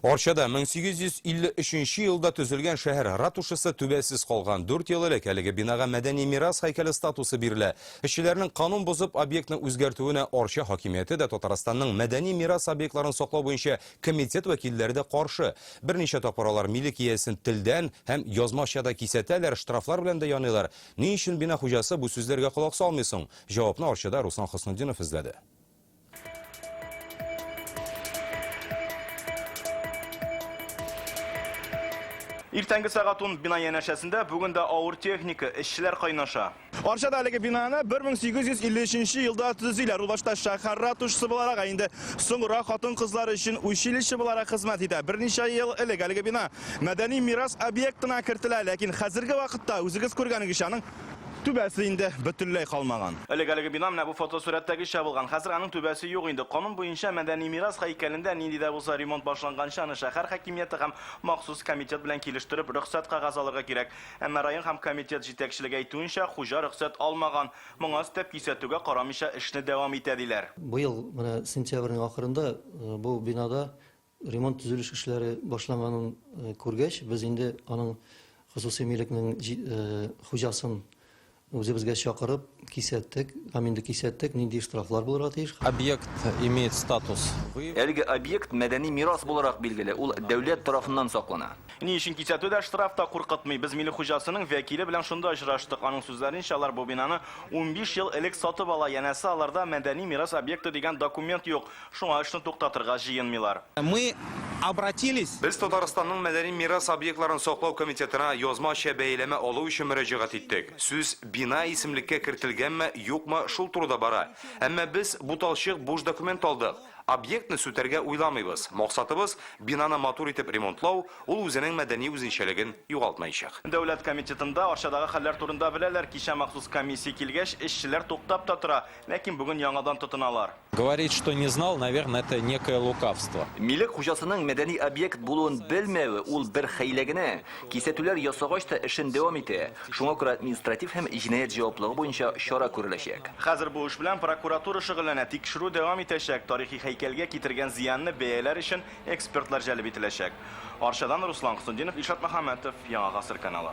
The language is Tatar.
Арчада 1853 нче елда төзелгән шәһәр ратушасы түбәсез калган. Дүрт ел элек әлеге бинага мәдәни мирас һәйкәле статусы бирелә. Эшчеләрнең канун бозып объектны үзгәртүенә Арча хакимияте дә, Татарстанның мәдәни мирас объектларын саклау буенча комитет вәкилләре дә каршы. Берничә тапкыр алар милек иясен телдән һәм язмача да кисәтәләр, штрафлар белән дә яныйлар. Ни өчен бина хуҗасы бу сүзләргә колак салмый соң? Җавапны Арчада Руслан Хөснетдинов эзләде. Иртәнге сәгать ун бина янәшәсендә бүген дә авыр техника, эшчеләр кайнаша. Арчада әлеге бинаны 1853 елда төзиләр. Ул башта шәһәр ратушасы буларак, ә инде соңра хатын-кызлар өчен училище буларак хезмәт итә. Берничә ел элек әлеге бина мәдәни мирас объектына кертелә, ләкин хәзерге вакытта, үзегез күргәнегезчә, аның Түбәсе инде бөтенләй калмаган. Элек әлеге бина менә бу фотосурәттәгечә булган. Хәзер аның түбәсе юк инде. Канун буенча, мәдәни мирас һәйкәлендә нинди дә булса ремонт башланганчы, аны шәһәр хакимияте һәм махсус комитет белән килештереп, рөхсәт кәгазе алырга кирәк. Әмма район һәм комитет җитәкчелеге әйтүенчә, хуҗа рөхсәт алмаган. Моңа өстәп, кисәтүгә карамыйча, эшне дәвам итә, диләр. Быел менә сентябрьнең ахырында бу бинада Ремонт-төзелеш эшләре башланганын күргәч, без инде аның хосусый милекнең хуҗасын үзебезгә чакырып, кисәттек. Һәм инде кисәттек, нинди штрафлар булырга тиеш. Объект имеет статус. Әлеге объект мәдәни мирас буларак билгеле, ул дәүләт тарафыннан саклана. Ни өчен кисәтү дә, штраф та куркытмый? Без милек хуҗасының вәкиле белән шунда очраштык. Аның сүзләренчә, алар бу бинаны унбиш ел элек сатып ала, янәсе, аларда мәдәни мирас объекты дигән документ юк. Шуңа эшне туктатырга җыенмыйлар. Мы обратились. Без Татарстанның мәдәни мирас объектларын саклау комитетына язмача бәяләмә алу өчен мөрәҗәгать иттек. Сүз бина исемлеккә кертелгәнме, юкмы, шул турыда бара. Әмма без буталчык буш документ алдык. Объектны сүтәргә уйламыйбыз. Максатыбыз, бинаны матур итеп ремонтлау, ул үзенең мәдәни үзенчәлеген югалтмаячак. Дәүләт комитетында Арчадагы хәлләр турында беләләр, кичә махсус комиссия килгәч, эшчеләр туктап та тора. Ләкин бүген яңадан тотыналар. Говорить, что не знал, наверное, это некое лукавство. Милек хуҗасының мәдәни объект булуын белмәве, ул бер хәйлә генә. Кисәтүләр ясагач та эшен дәвам итә. Шуңа күрә административ һәм җинаять җаваплыгы буенча чара күреләчәк. Хәзер бу эш белән прокуратура шөгыльләнә, тикшерү дәвам итәчәк, тарихи һәйкәлгә китергән зыянны бәяләр өчен экспертлар җәлеп ителәчәк. Арчадан Руслан Хөснетдинов, Илшат Мөхәммәтов, Яңа гасыр каналы.